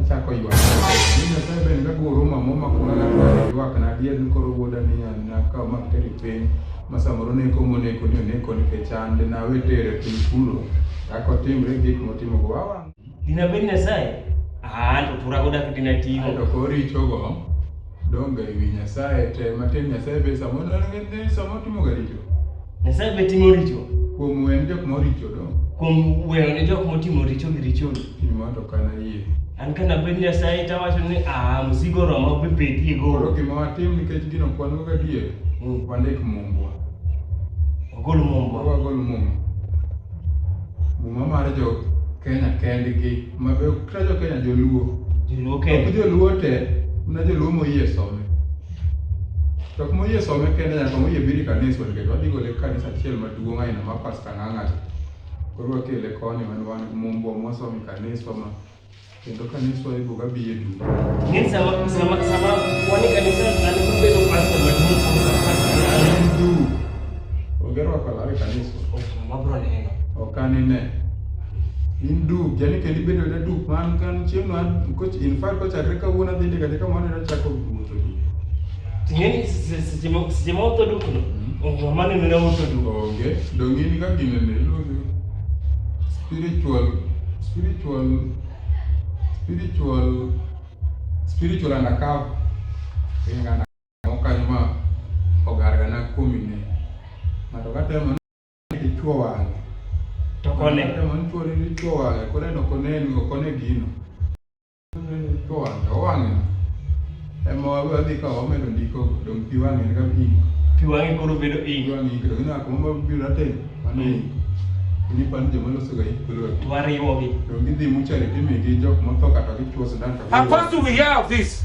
Achako ywak. Mimi nasema ben ga goro mamo makuna na ywak na dier ni koro wuoda ni an na ka ma teri piny. Masamoro ne ko mone ko ni ne ko ni ke chande na we tere piny kuro. Ako timre gik motimo go wawa. Dina ben na sai. Ah, to tura goda kitina tiyo. Ato kori chogo. Donge ewi Nyasaye te matin Nyasaye be samo ne samo timo ga richo. Nyasaye be timo richo. Kuom wen jok moricho do. Kuom weyo ne jok motimo richo gi richo. Timo to kana yie. An kana bed Nyasaye tawacho ni ah mzigo romo be bedie go. Koro gima watim nikech gino kwan go gadier. Mm. Wandik mumbwa. Wagol mumbwa. Wagol mumbwa. Muma mar jo Kenya kendgi. Mabe kila jo Kenya joluo. Joluo Ok Kenya. joluo te, na joluo moyie some. To kuma oyie some kende nyaka moyie biri kanisa nikech wadhi gole kanisa achiel maduong' aina ma pasta ng'ang'ati. Koro wakele koni man wan mumbo mosomi kanisa ma kendo kanisa ibuga biye duto. Ni sama sama sama wani kanisa alikuwa bedo pasta maduong' kuliko pasta ng'ang'ati. Du. Ogero wakalawe kanisa. Ok, mabro neno. Ok anine. in duk yani kendo ibedo na duk man kan chieng' no in fact kochakre kawuono adhi ndika ndika mano ero chako wuotho gi ting'eni seche ma seche ma otho dukno onge ma neno ne otho duk onge donge in ka gine ne iluongo spiritual spiritual spiritual spiritual undercover ingana okanyo ma ogargana kuom ine ng'ato ka temo dichuo wang'e to kone mantuore dichuo wang'e koro en ok oneni ok one gino dichuo wang'e owang'e ema wadhi ka wamedo ndiko dong' pi wang'e en ka pi pi wang'e koro bedo ink pi wang'e ink dong' inaka mama biro atem mano ink ni pan joma loso ga ink kolo to wariwogi dong' gidhi muchari timigi jok motho kata gichuo sindan to How fast do we hear of this?